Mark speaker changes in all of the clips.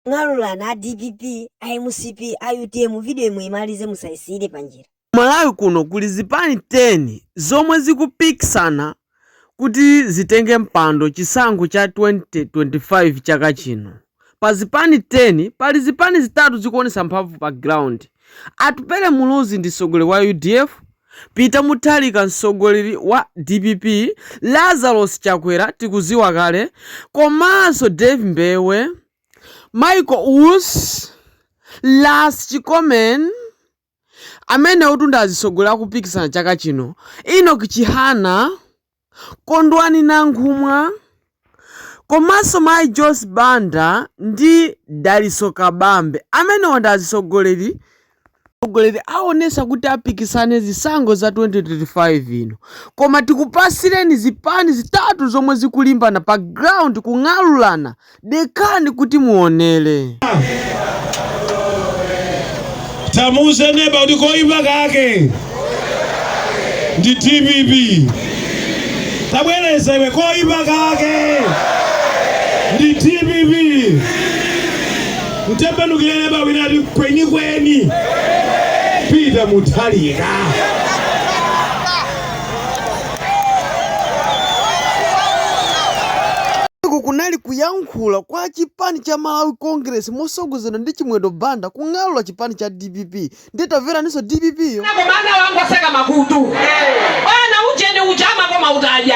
Speaker 1: Ng'alulana a dpp, a mcp, a utm video imwe muimalize musaisiyire panjira. Malawi kuno
Speaker 2: kuli zipani 10 zomwe zikupikisana kuti zitenge mpando chisankho cha 2025 chaka chino. Pa zipani 10 pali zipani zitatu zikuonetsa mphamvu pa ground. Atupele Muluzi ndi mtsogoleri wa udf. Peter Mutharika mtsogoleri wa dpp, Lazarus Chakwera tikuziwa kale komanso Dave Mbewe, Michael Usi, Last Chikomen amenewotu ndi azitsogoleri akupikisana chaka chino, Enock Chihana, Kondwani Nankhumwa komanso mayi Joyce Banda ndi Dalitso Kabambe. Amenewa ndi azitsogoleri atsogoleri aonesa kuti apikisane zisankho za 2025 ino koma tikupasireni zipani zitatu zomwe zikulimbana pa ground kung'alulana Dekani kuti muonere.
Speaker 3: Tamuuze neba kuti koipa kake ndi dpp. Tabwereza iwe koipa kake ndi dpp. Mtembenukire neba wina ati kwenikweni Peter Mutharika.
Speaker 2: kunali kuyankhula kwa chipani cha Malawi Congress mosogozedwa ndi Chimwendo Banda kung'alula chipani cha DPP nde tamveraninso DPP yo bana
Speaker 4: wangoseka makutu bana uje ndi uja amakoma utaja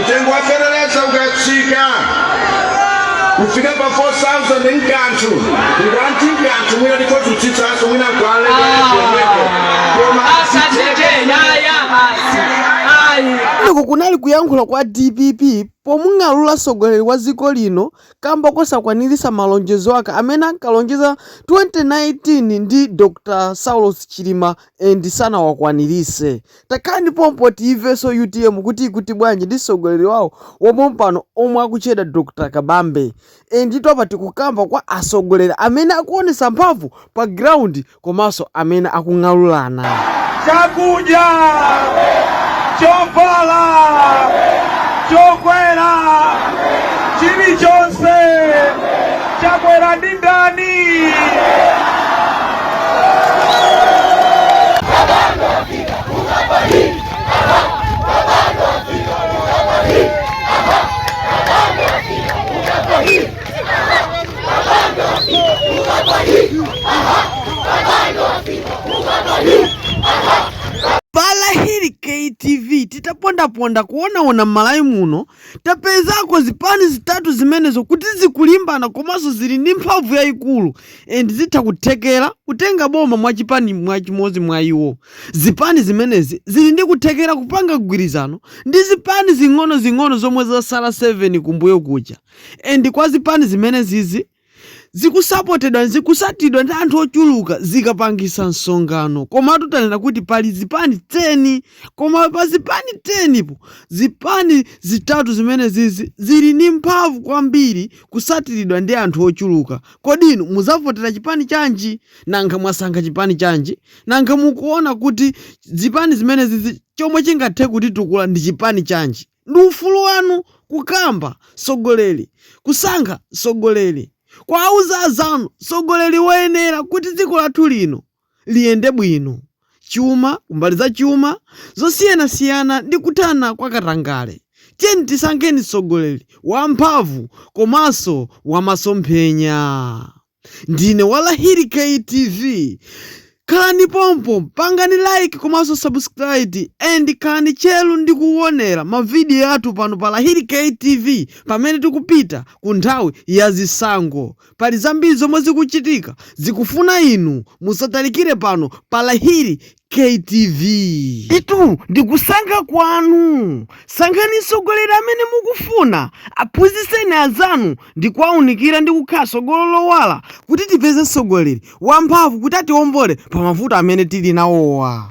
Speaker 5: mtengo wa feteleza ukatsika kufika pa 4000 nkanthu ngwanti nkanthu mwina ndikoziutsitsanso mwina kwaleomeko koma asatete yaya
Speaker 2: basi ayi kumeneko kunali kuyankhula kwa dpp pomung'alula mtsogoleri wa dziko lino kamba kosakwaniritsa malonjezo ake amene ankalonjeza 2019 ndi dr saulos chilima and sanawakwaniritse Takhalani pompo tiimvenso utm kuti ikuti bwanji ndi mtsogoleri wawo wapompano omwe akutchedwa Dr Kabambe. Enditu apa tikukamba kwa atsogoleri amene akuonetsa mphamvu pa ground komanso amene akung'alulana. Chakudya!
Speaker 3: Chovala! Chokwera! Chilichonse! Chakwera ndi ndani?
Speaker 2: TV titapondaponda kuonaona m'Malawi muno tapezako zipani zitatu zimenezo kuti zikulimbana komanso zili ndi mphamvu yayikulu. and zitha kuthekera kutenga boma mwa chipani mwa chimodzi mwa iwo. Zipani zimenezi zili ndi kuthekera kupanga gwirizano ndi zipani zing'ono zing'ono zomwe zatsala 7 kumbuyo kuja and kwa zipani zimenezizi zikusapotedwa zikutsatidwa ndi anthu ochuluka zikapangisa msonkhano komatu tanena kuti pali zipani 10 koma pa zipani 10 po zipani zitatu zimenezizi zili ndi mphamvu kwambiri kutsatiridwa ndi anthu ochuluka Kodi inu muzavotera chipani chanji? Nanga mwasankha chipani chanji? Nanga mukuona kuti zipani zimenezizi chomwe chingathe kutitukula ndi chipani chanji? Ndi ufulu wanu kukamba mtsogoleri, kusankha mtsogoleri, kuauza azanu mtsogoleri woyenera kuti dziko lathu lino. liyende bwino, chuma, kumbali za chuma zosiyanasiyana ndi kuthana kwa katangale. Tiyeni tisankheni mtsogoleri wa mphamvu komanso wa masomphenya. Ndine wa Lahiri KTV. Khalani pompo, pangani like komanso subscribe and khalani tcheru ndi kuwonera mavidiyo athu pano pa Lahiri KTV pamene tikupita ku nthawi ya zisankho. Pali zambiri zomwe zikuchitika zikufuna inu musatalikire pano pa Lahiri KTV. Itu ndi kusankha kwanu. Sankhani mtsogoleri amene mukufuna, aphunzitseni anzanu ndi kuwaunikira ndi kukhala tsogolo lowala kuti tipeze mtsogoleri wamphamvu kuti atiwombole pa mavuto amene tili nawowa.